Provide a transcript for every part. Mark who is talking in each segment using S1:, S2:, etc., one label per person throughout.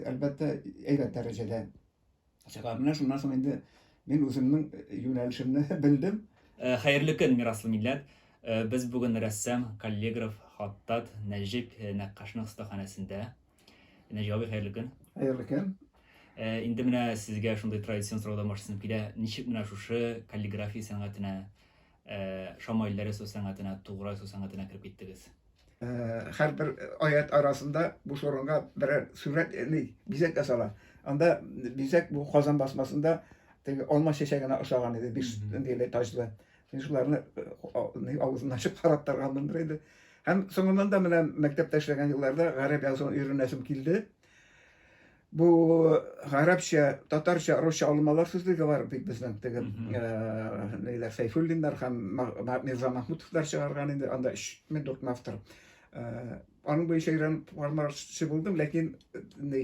S1: әлбәттә, әйбәт дәрәҗәдә чыга. Менә шуннан соң инде мин үземнең э, юнәлешемне белдем. Э, хәерле көн, мираслы милләт. Э, без бүген рәссам, каллиграф, хаттат Нәҗип Нәккашның остаханәсендә. Нәҗип абый, хәерле көн. Хәерле көн. Инде менә сезгә шундый традицион сораулар башланып килә. Ничек менә шушы каллиграфия сәнгатенә Шамаилләр ясау сәнгатенә, тугры ясау сәнгатенә кереп киттегез? Һәрбер аят арасында буш урынга берәр сурәт, яни бизәк ясала. Анда бизәк бу Казан басмасында теге алма чәчәгенә ошаган иде, биш ниле таҗлы. Мин шуларны авызын ачып карап торганмындыр иде. Һәм соңыннан да менә мәктәптә эшләгән елларда гарәп язуын өйрәнәсем килде. Бу гарәпчә, татарча, русча алымалар сүзлеге бар бит безнең теге ниләр Сәйфуллиннар һәм Мирза Махмутовлар чыгарган инде, анда 3 автор. Аның буенча өйрәнеп бармакчы булдым, ләкин ни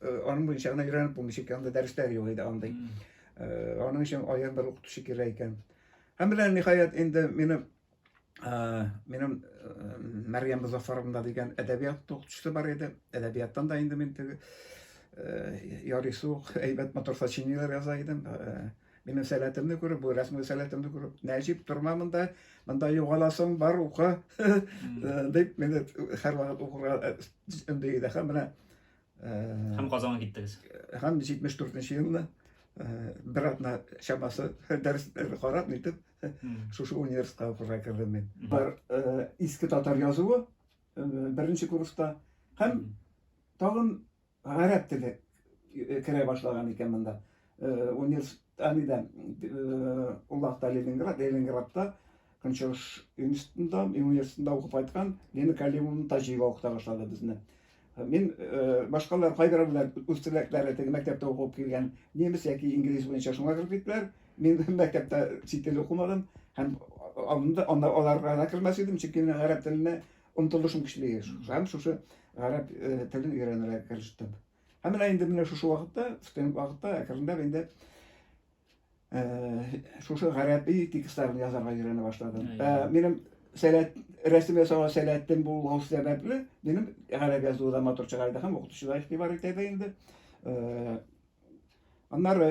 S1: аның буенча гына өйрәнеп булмый, чөнки анда дәресләр юк иде андый. Аның өчен аерым бер укытучы кирәк икән. Һәм белән ниһаять инде мине минем Мәргән Музафаровна дигән әдәбият укытучысы бар иде. Әдәбияттан да инде мин теге ярыйсы ук әйбәт матур сочинениеләр яза идем. Минем сәләтемне күреп, бу рәсми сәләтемне күреп, Нәҗип, торма монда, монда югаласың, бар укы, дип, мине һәрвакыт укырга өндәде. Һәм менә Һәм Казанга киттегез. Һәм 74 нче елны бер атна чамасы дәресләр карап нитеп шушы университетка укырга кердем мин. Бер иске татар язуы беренче курста һәм тагын гарәп теле керә башлаган икән монда. Э, университет, әнидән, э, Уллахта Ленинград, Ленинградта, Көнчыгыш институтында, университетында укып кайткан Лена Калимовна Таҗиева укыта башлады безне. Э, мин башкалар кайбер белән үз теләкләре теге мәктәптә укып килгән немец яки инглиз буенча шуңа кереп киттеләр. Мин мәктәптә чит тел укымадым һәм алында анда аларга да кермәс идем, чөнки мин гарәп теленә омтылышым көчле. Һәм шушы гарәп телен өйрәнергә керештем. Һәм менә инде менә шушы вакытта, студент вакытта әкренләп инде шушы гарәби текстларын язарга өйрәнә башладым. Минем сәләт рәсем ясауга сәләтем булу сәбәпле, минем гарәп язуы да матур чыга иде һәм укытучы да игътибар итә иде инде. Аннары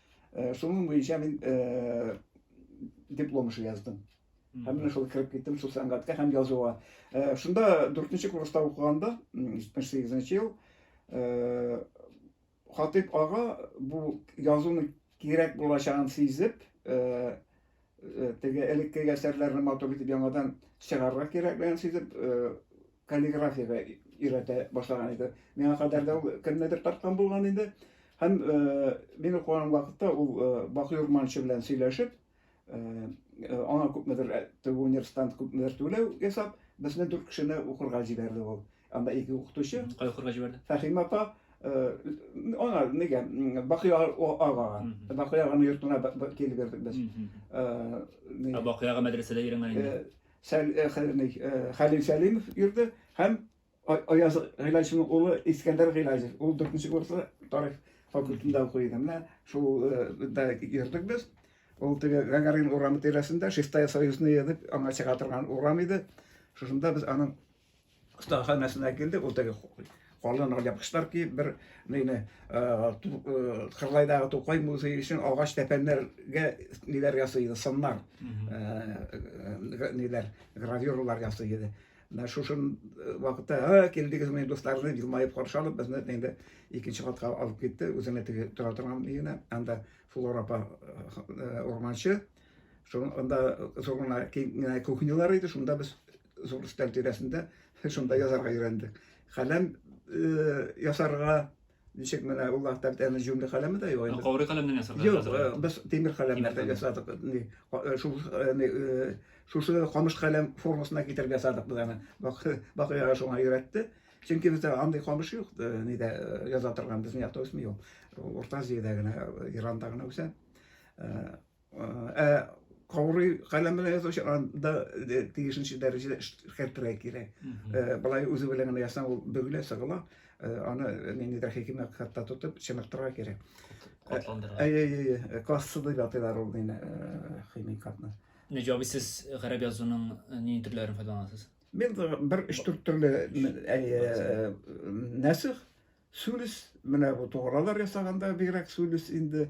S1: Э, шуның буенча мин э, диплом эше яздым һәм менә шул кереп киттем шул сәнгатькә һәм язуга э, шунда дүртенче курста укыганда җитмеш сигезенче ел хатыйп ага бу язуның кирәк булачагын сизеп Э, теге элекке әсәрләрне матур итеп яңадан чыгарырга кирәклеген сизеп э, каллиграфияга өйрәтә башлаган иде миңа кадәр дә ул кемнедер тарткан булган инде һәм э, мин укыган вакытта ул бакый урманчы белән сөйләшеп аңа күпмедер теге университант күпмедер түләү ясап безне дүрт кешене укырга җибәрде ул Анда ике укытучы. Кай укырга җибәрде? Фәхим апа Она неге Бакый ага. Бакый аганың йортына килеп бирдек без. Ә Бакый ага мәдрәсәдә йөргән инде. Сәл Хәлил Сәлимов йөрде һәм Аяз Гыйлаҗевның улы Искәндәр Гыйлаҗев. Ул 4-нче курста тарих факультетында укый иде. Менә шул да йөрдек без. Ул теге Гагарин урамы тирәсендә Шестая Союзная дип аңа чыга торган урам иде. Шушында без аның остаханәсенә килдек, ул теге калын япкычлар киеп бер нейне кырлайдагы тукай музее өчен агач тәпәннәргә ниләр ясый иде сыннар ниләр гравюралар ясый иде менә шушы вакытта килдегез мени дуслар дип елмаеп каршы алып безне инде икенче катка алып китте үзенә теге тора торган өенә анда флора апа урманчы шунда зур гына кухнялар иде шунда без зур өстәл тирәсендә шунда язарга өйрәндек. Каләм э, ясарга ничек менә ул вакытта әле җүмле каләме дә юк. Каурый каләмнән ясарга. Юк, э, без тимер каләмнәрдән ясадык. Э, шушы шушы камыш каләм формасына китереп ясадык без аны. Бакыяга шуңа өйрәтте. Чөнки бездә андый камыш юк, нидә яза торган безнең якта үсми ул. Урта Азиядә генә, Иранда гына үсә. Ә каурый каләм белән язучы анда тиешенчә дәрәҗәдә эшкәртергә кирәк. Былай үзе белән генә ясаң ул бөгелә, сыгыла. Аны ниндидер хикимә хатта тотып чыныктырырга кирәк. Катландырырга. Әйе, әйе, классы дип атыйлар ул мине химик хатны. Нәҗаби сез гарәп язуының ни төрләрен файдаланасыз? Мин бер 3-4 төрле әйе нәсих Сүлес, менә бу тугралар ясаганда бигрәк сүлес инде.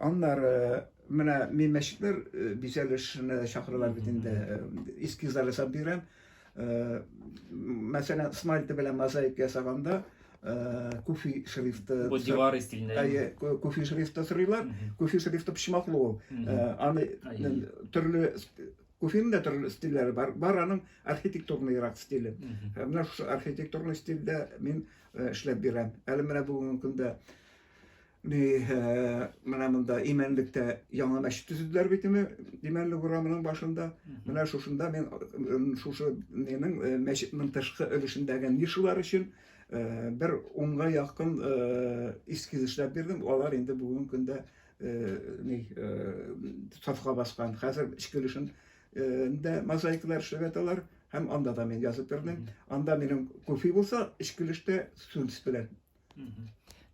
S1: Аннары менә мин мәчетләр э, бизәлешенә чакыралар бит инде э, эскизлар ясап бирәм. Э, мәсәлән, смальта белән мозаика ясаганда куфи шрифты бу дивар стилендә әйе куфи шрифты сырыйлар куфи шрифты почмаклы ул аны төрле Уфиның да төрле стильләре бар. Бар аның архитектурный рак стиле. Һәм менә шушы архитектурный стильдә мин э, эшләп бирәм. Әле менә бүгенге көндә ни э, менә монда Имәнлектә яңа мәчет төзеделәр бит инде Имәнлек урамының башында. Менә шушында мин э, шушы нинең э, мәчетнең тышкы өлешендәге нишалар өчен э, бер унга якын э, эскиз эшләп бирдем. Алар инде бүгенге көндә сафка баскан. Хәзер эчке өлешен дә мозаикалар эшләп яталар һәм анда да мин язып бирдем. Анда минем кофе булса, эчке өлештә сүнс белән.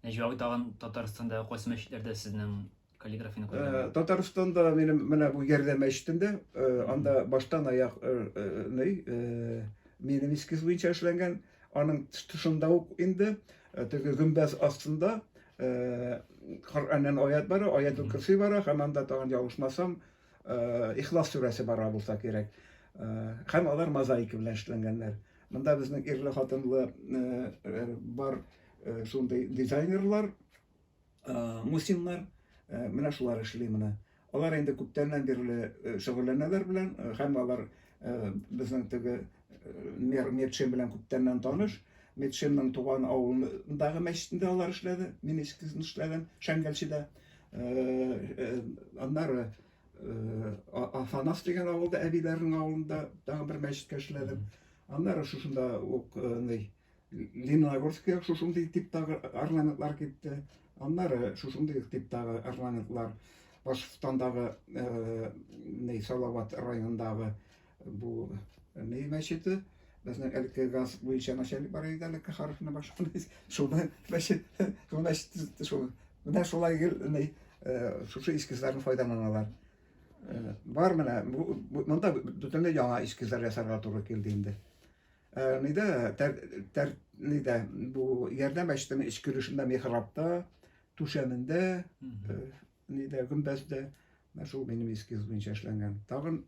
S1: Нәҗиб тагын Татарстанда кайсы мәчетләрдә сезнең каллиграфияне күргән? Татарстанда минем менә бу Ярдәм мәчетендә, анда баштан аяк минем эскиз буенча эшләнгән. Аның тышында ук инде э, теге гөмбәз астында э, Коръәннән аят бара, аятул кирси бара, һәм анда тагын ялгышмасам, э, Ихлас сүрәсе бара булса кирәк. Һәм алар мозаика белән эшләнгәннәр. Монда безнең ирле хатынлы бар шундый дизайнерлар, Мусиннар менә шулар эшли моны. Алар инде күптәннән бирле шөгыльләнәләр белән, һәм алар безнең теге Метшин белән күптәннән таныш. Метшинның туган авылындагы мәчетендә алар эшләде, мин эскизен эшләдем, Шәңгәлчедә. Аннары Афанас дигән авылда, әбиләрнең авылында тагын бер мәчеткә эшләдем. Аннары шушында ук, Лениногорскига шушындый типтагы орнаментлар китте. Аннары шушындый типтагы орнаментлар Башкортстандагы э, не Салават районындагы бу не мәчете безнең әлеге газ буенча начальник бар иде әлеге харфны башкан шуны мәчет шул мәчет шул менә шулай не э, шушы эскизларны файдаланалар э, бар менә монда бөтенләй яңа эскизлар ясарга туры килде инде Э, ни дә, тәр, тәр, ни дә, бу ярдәм әчтем эч көлешендә михрабта, түшәмендә, э, ни дә, гөмбәздә, менә шул минем эскиз буенча эшләнгән. Тагын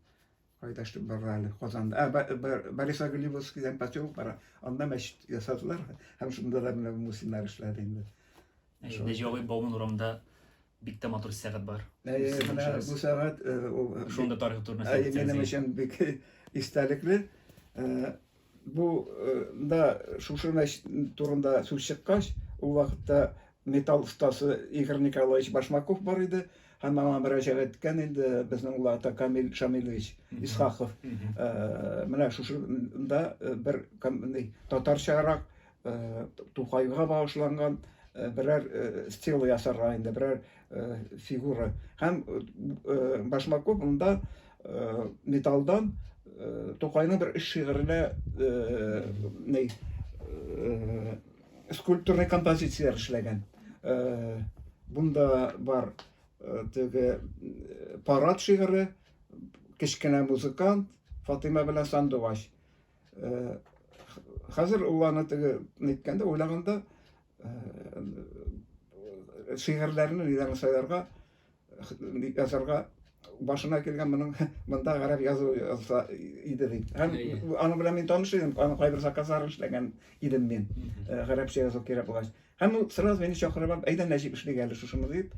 S1: кайда эшләп барра әле, Казанда. Ә, ә Борис Агулевский дигән поселок бар, анда мәчет ясадылар, һәм шунда да менә мусиннар эшләде инде. Инде җавый Бауман урамында бик тә матур сәгать бар. Бу сәгать шунда тарихы турында сөйләп Минем өчен бик истәлекле. Бу да шушы турында сүз чыккач, ул вакытта металл остасы Игорь Николаевич Башмаков бар иде. Һәм аңа мөрәҗәгать иткән инде безнең улларда Камил Шамилович Исхаков. Менә шушында бер татарчарак Тукайга багышланган берәр стил ясарга инде, берәр фигура. Һәм Башмаков монда металдан Тукайның бер үз шигыренә ней скульптурный композиция эшләгән. Бунда бар теге парад шигыре, кечкенә музыкант, Фатыйма белән сандугач. э, хәзер ул аны теге әйткәндә уйлаганда э, шигырьләрне нидән сайларга язарга башына килгән моның монда гарәп язу язса иде ди һәм аның белән мин таныш идем аның кайбер заказларын эшләгән идем мин гарәпчә язу кирәк булгач һәм ул сразу мине чакырып алып әйдә нәҗип эшлик әле шушыны дип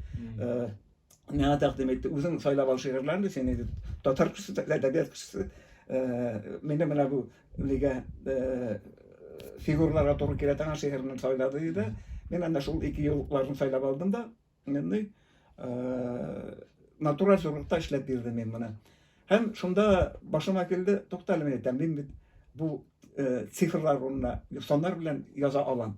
S1: миңа тәкъдим итте. Үзең сайлап ал шигырьләрне, син инде татар кешесе, әдәбият кешесе. Э, Мине менә бу нигә э, фигураларга туры килә торган шигырьне сайлады диде. Мин анда шул ике юлларны сайлап алдым да, инде э, натураль зурлыкта эшләп бирдем мин моны. Һәм шунда башыма килде, тукта әле, әйтәм, мин бит бу цифрлар урынына саннар белән яза алам.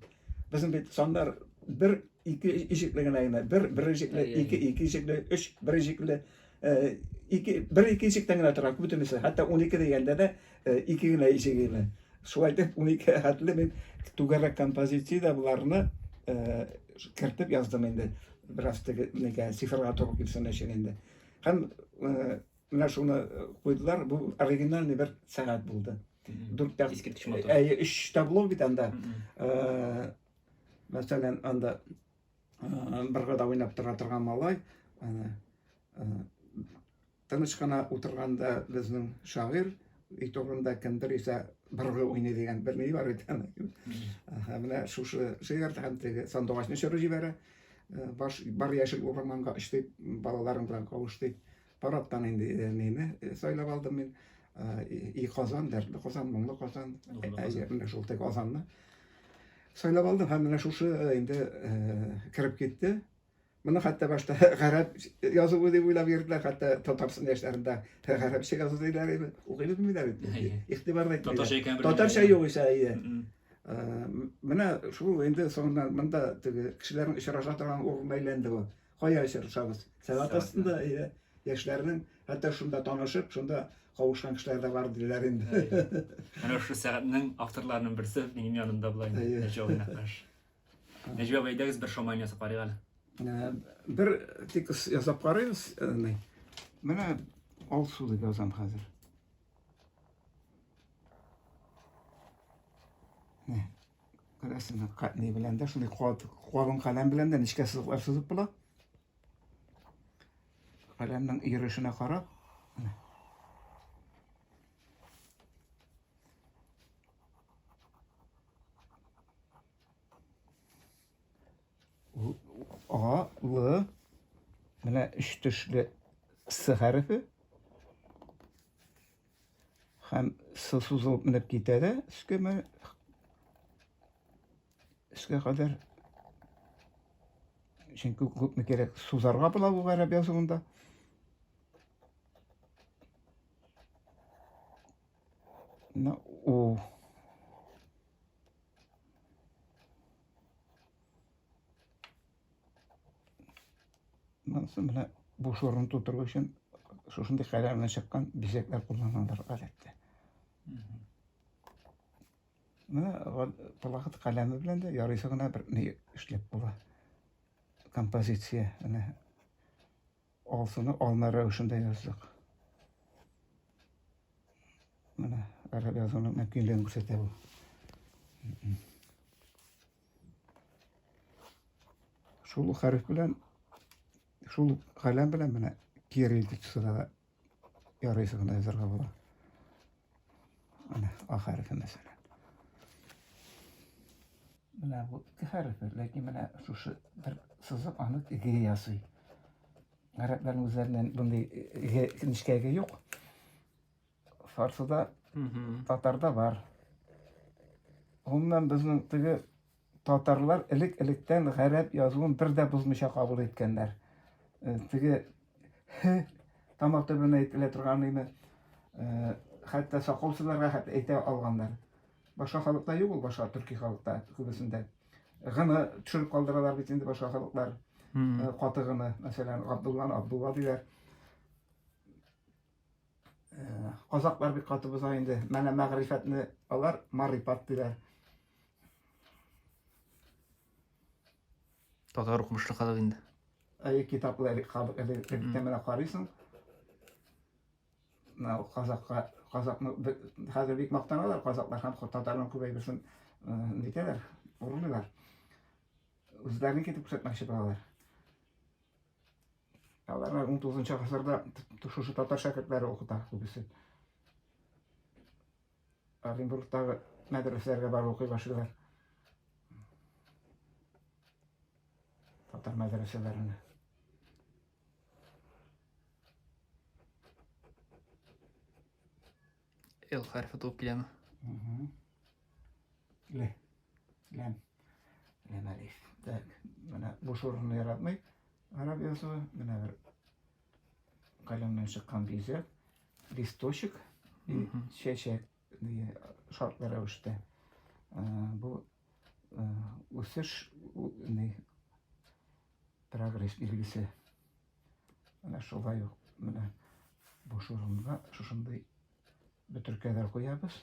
S1: Безнең бит саннар бер ике ишекле генә генә, бер бер ишекле, ике ике ишекле, өч бер ишекле, ике бер ике ишектән генә тора, бөтенесе. Хәтта 12 дигәндә дә ике генә ишек генә. Шулай дип 12 хәтле мин түгәрәк композициядә буларны кертеп яздым инде. Бераз теге цифрга туры килсен өчен инде. Һәм э, менә шуны э, куйдылар, бу оригинальный бер сәгать булды. Дүрт тә... Искиткеч матур. Әйе, өч табло бит анда. Э, мәсәлән, анда бер гада уйнап тора торган малай, тыныч кына утырганда безнең шагыйрь, өй турында кемдер исә быргы уйный дигән бер ни бар бит. Менә шушы шигырь һәм теге сандугачны чоры җибәрә. Баш, бар яшел урманга очтык, балаларым белән кавыштык. Парадтан инде нейне сайлап алдым мин. И Казан, дәртле Казан, моңлы Казан. Әйе, менә шул тек Казанны. Сайлап алдым һәм менә шушы инде кереп китте. Моны хәтта башта гарәп язуы дип уйлап йөрделәр, хәтта Татарстан яшьләрендә гарәпчә язу диләр иде. Укыйбыз миләр бит. Игътибар да итмиләр. Татарча икән. Татарча юк исә, әйе. Э, менә шул инде соңыннан монда теге кешеләрнең очраша торган урынына әйләнде бу. Кая очрашабыз? Сәгать астында, әйе. Яшьләрнең хәтта шунда танышып, шунда кавышкан кешеләр дә бар диләр инде. Менә шул сәгатьнең авторларының берсе минем янымда була инде. Нәҗиб Нәкаш. Нәҗиб абый, әйдәгез бер шоман ясап карыйк әле. Э, бер текст ясап карыйбыз. Э, менә алсу дип язам хәзер. Күрәсең, не белән дә, шундый калын каләм белән дә нечкә сызыклар сызып була. Каләмнең йөрешенә карап. А, Л, менә өч төшле С хәрефе. Һәм С сузылып менеп китә дә, өскә менә өскә кадәр. Чөнки күпме кирәк сузарга була бу гарәп язуында. Менә У. Монысы менә буш урын тутыру өчен шушындый каләм белән чыккан бизәкләр кулланалар гадәттә. Менә вакыт каләме белән дә ярыйсы гына бер ни эшләп була. Композиция, менә Алсыны алма рәвешендә яздык. Менә араб язуының мөмкинлеген күрсәтә бу. Шул хәреф белән, шул каләм белән менә кирилл текстына да Ярыйсы гына язарга була. Менә А хәрефе мәсәлән. Менә бу ике хәрефе, ләкин менә шушы бер сызык аны ге ясый. Гарәпләрнең үзләреннән мондый ге нечкәге юк. Фарсыда, татарда бар. Гомумән безнең теге Татарлар элек-электән гарәп язуын бер дә бозмыйча кабул иткәннәр. Э, теге һ тамак төбенә әйтелә торган име, э, хәтта сакал сызарга хәтта әйтә алганнар. Башка халыкта юк ул, башка төрки халыкта күбесендә. Гыны төшереп калдыралар бит инде башка халыклар. Э, каты гыны, мәсәлән, Габдулланы Абдулла диләр. Казаклар бик каты боза инде. Мәнә мәгърифәтне алар марипат диләр. Татар укымышлы халык инде. Әй китаплар халык электә менә карыйсың. Менә казакка казакны хәзер бик мактаналар казаклар һәм татарлар күбәйбесен нитәләр, урлыйлар. Үзләрен китеп күрсәтмәкче булалар. Аларны 19 гасырда шушы татар шәкертләре укыта күбесе. Оренбургтагы мәдрәсәләргә барып укый башлыйлар. Татар мәдрәсәләренә. L хәрефе туып киләме? Л. Ләм. Ләм әлиф. Так, менә бу шурны яратмый. Араб язуы, менә бер каләмнән чыккан бизәк, листочек, чәчәк дигән шартлы рәвештә. Бу үсеш, прогресс билгесе. Менә шулай ук менә буш урынга шушындый бөтеркәләр куябыз.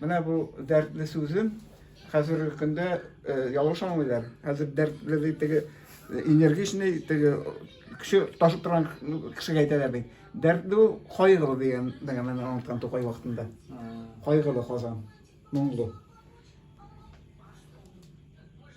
S1: Менә бу дәртле сүзен хәзерге көндә э, ялгыш аңлыйлар. Хәзер дәртле ди теге э, энергичный, теге кеше ташып торган кешегә әйтәләр бит. Дәртле ул кайгылы дигән дигән мен аңлаткан Тукай вакытында. Кайгылы Казан, моңлы.